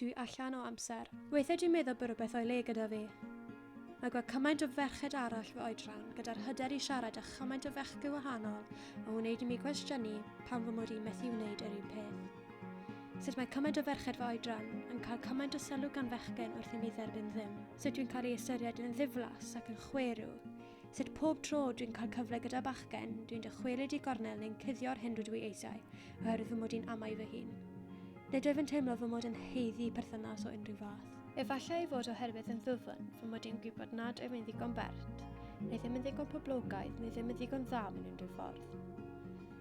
Dwi allan o amser. Weithiau dwi'n meddwl bod rhywbeth o'i le gyda fi. Mae gweld cymaint o ferched arall fy oedran gyda'r hyder i siarad â chymaint o fechgyn wahanol yn wneud i mi gwestiynu pam fy mod i'n methu wneud yr un peth. Sut mae cymaint o ferched fy oedran yn cael cymaint o sylw gan fechgyn wrth i mi dderbyn ddim? Sut dwi'n cael ei ystyried yn ddiflas ac yn chwerw? Sut pob tro dwi'n cael cyfle gyda bachgen, dwi'n dychwelyd i gornel neu'n cuddio'r hyn rydw i eisiau, oherwydd fy mod i'n amau fy hun. Nid wyf yn teimlo fy mod yn heiddi perthynas o unrhyw fath. Efallai ei fod oherwydd yn ddwfn, fy mod i'n gwybod nad wyf yn ddigon bert, neu ddim yn ddigon poblogaidd, neu ddim yn ddigon dda mewn unrhyw ffordd.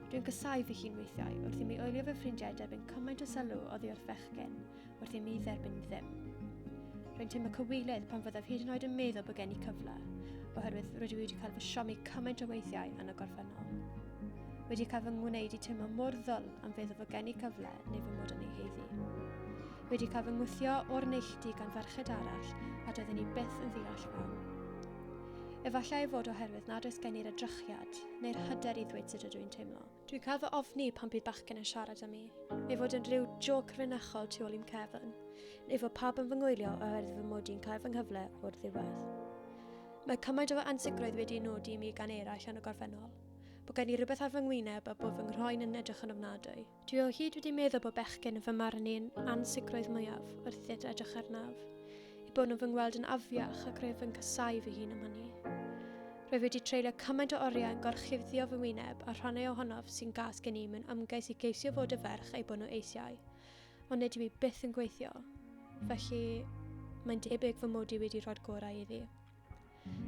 Dwi'n casau fy hun weithiau, wrth i mi oelio fy ffrindiau derbyn cymaint o sylw oddi wrth fechgyn, wrth i mi dderbyn ddim. Rwy'n teimlo cywilydd pan fyddaf hyd yn oed yn meddwl bod gen i cyfle, oherwydd rydw i wedi cael fy siomi cymaint o weithiau yn y gorffennol. Wedi cael fy ngwneud i teimlo mor ddwl am feddwl fod gen i cyfle neu fy mod yn ei heiddi. Wedi cael fy ngwthio o'r neilltu gan ferched arall a doedden ni byth yn ddeall pam. Efallai ei fod oherwydd nad oes gen i'r edrychiad neu'r hyder i ddweud sut ydw i'n teimlo, Dwi caf fy ofni pan bydd bachgen yn siarad â mi, ei fod yn rhyw joc rynachol tu ôl i'm cefn, neu fod pawb yn fy ngwylio oherwydd fy mod i'n cael fy nghyfle o'r ddiwedd. Mae cymaint o ansicrwydd wedi nodi i mi gan eraill yn y gorffennol, bod gen i rhywbeth ar fy ngwyneb a bod fy nghroen yn edrych yn ofnadwy. Dwi o hyd wedi meddwl bod bechgyn yn fy marn i'n ansicrwydd mwyaf wrth i'r edrych arnaf, eu bod nhw'n fy ngweld yn afiach ac rwyf yn casáu fy hun am hynny. Rwy wedi treulio cymaint o oriau yn gorchudddio fy wyneb a rhannau ohonof sy'n gas gen i mewn ymgais i geisio fod y ferch ei bod nhw eisiau. Ond nid yw i byth yn gweithio. Felly, mae'n debyg fy mod i wedi rhoi'r gorau iddi.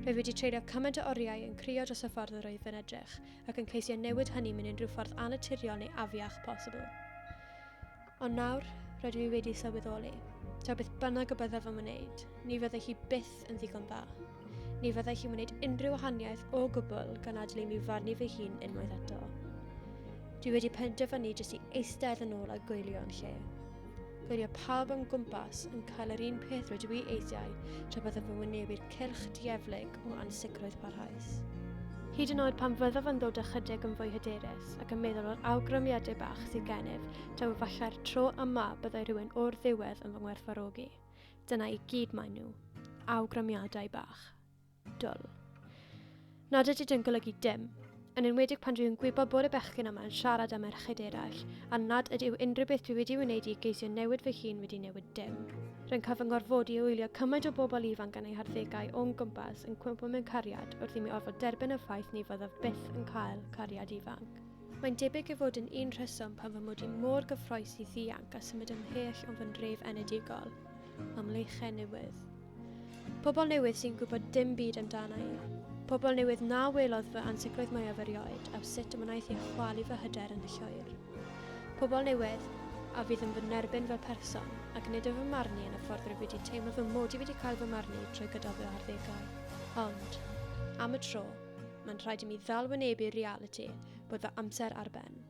Rwy wedi treulio cymaint o oriau yn crio dros y ffordd yr oedd fe'n edrych, ac yn ceisio newid hynny mewn unrhyw ffordd annaturiol neu afiach posibl. Ond nawr, rydw i wedi sylweddoli, taw beth bynnag y byddaf yn wneud, ni fyddai hi byth yn ddigon dda. Ni fyddai hi'n wneud unrhyw wahaniaeth o gwbl gan adlu mi farnu fy hun unwaith eto. Dwi wedi penderfynu jyst i eistedd yn ôl a gwylio yn lle. Gwylio pawb am gwmpas yn cael yr un peth rydw i eisiau tra byddaf yn wynebu'r cylch dieflig o ansicrwydd parhaus. Hyd yn oed pan fyddaf yn dod ychydig yn fwy hyderus ac yn meddwl o'r awgrymiadau bach sydd gennyf, Taw efallai'r tro yma byddai rhywun o'r ddiwedd yn fy ngwerthfarogi. Dyna i gyd maen nhw. Awgrymiadau bach. Dwl. Nad ydy dyn golygu dim, yn enwedig pan dwi yn gwybod bod y bechgyn yma yn siarad â merched eraill, a nad ydyw unrhyw beth dwi wedi wneud i geisio newid fy hun wedi newid dim. Rwy'n cael fy ngorfodi i wylio cymaint o bobl ifanc yn ei harddegau o'n gwmpas yn cwympo mewn cariad wrth i mi orfod derbyn y ffaith ni fyddaf byth yn cael cariad ifanc. Mae'n debyg ei fod yn un rheswm pam fy mod i mor gyffrous i ddianc a symud ymhell o'n fy ndref enedigol, am leichen newydd. Pobl newydd sy'n gwybod dim byd amdana i. Pobl newydd na welodd fy ansicrwydd mwyaf erioed am sut y wnaeth ei chwalu fy hyder yn llwyr. Pobl newydd a fydd yn fy nerbyn fel person ac nid yn fy marn i yn y ffordd rwy wedi teimlo fy mod i wedi cael fy marn i trwy gydol fy arddegau. Ond, am y tro, Mae'n rhaid i mi ddal wynebu'r realiti bod fy amser ar ben.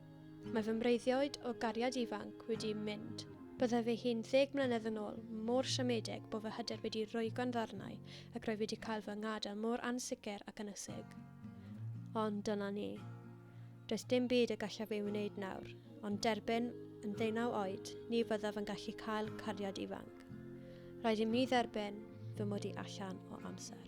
Mae fy mreiddioed o gariad ifanc wedi mynd. Byddai fy hun ddeg mlynedd yn ôl mor siomedig bod fy hyder wedi rwygo'n ddarnau ac roedd wedi cael fy ngadael mor ansicr ac ynysig. Ond dyna ni. Does dim byd y gallaf ei wneud nawr, ond derbyn, yn ddeunaw oed, ni fyddaf yn gallu cael cariad ifanc. Rhaid i mi dderbyn fy mod i allan o amser.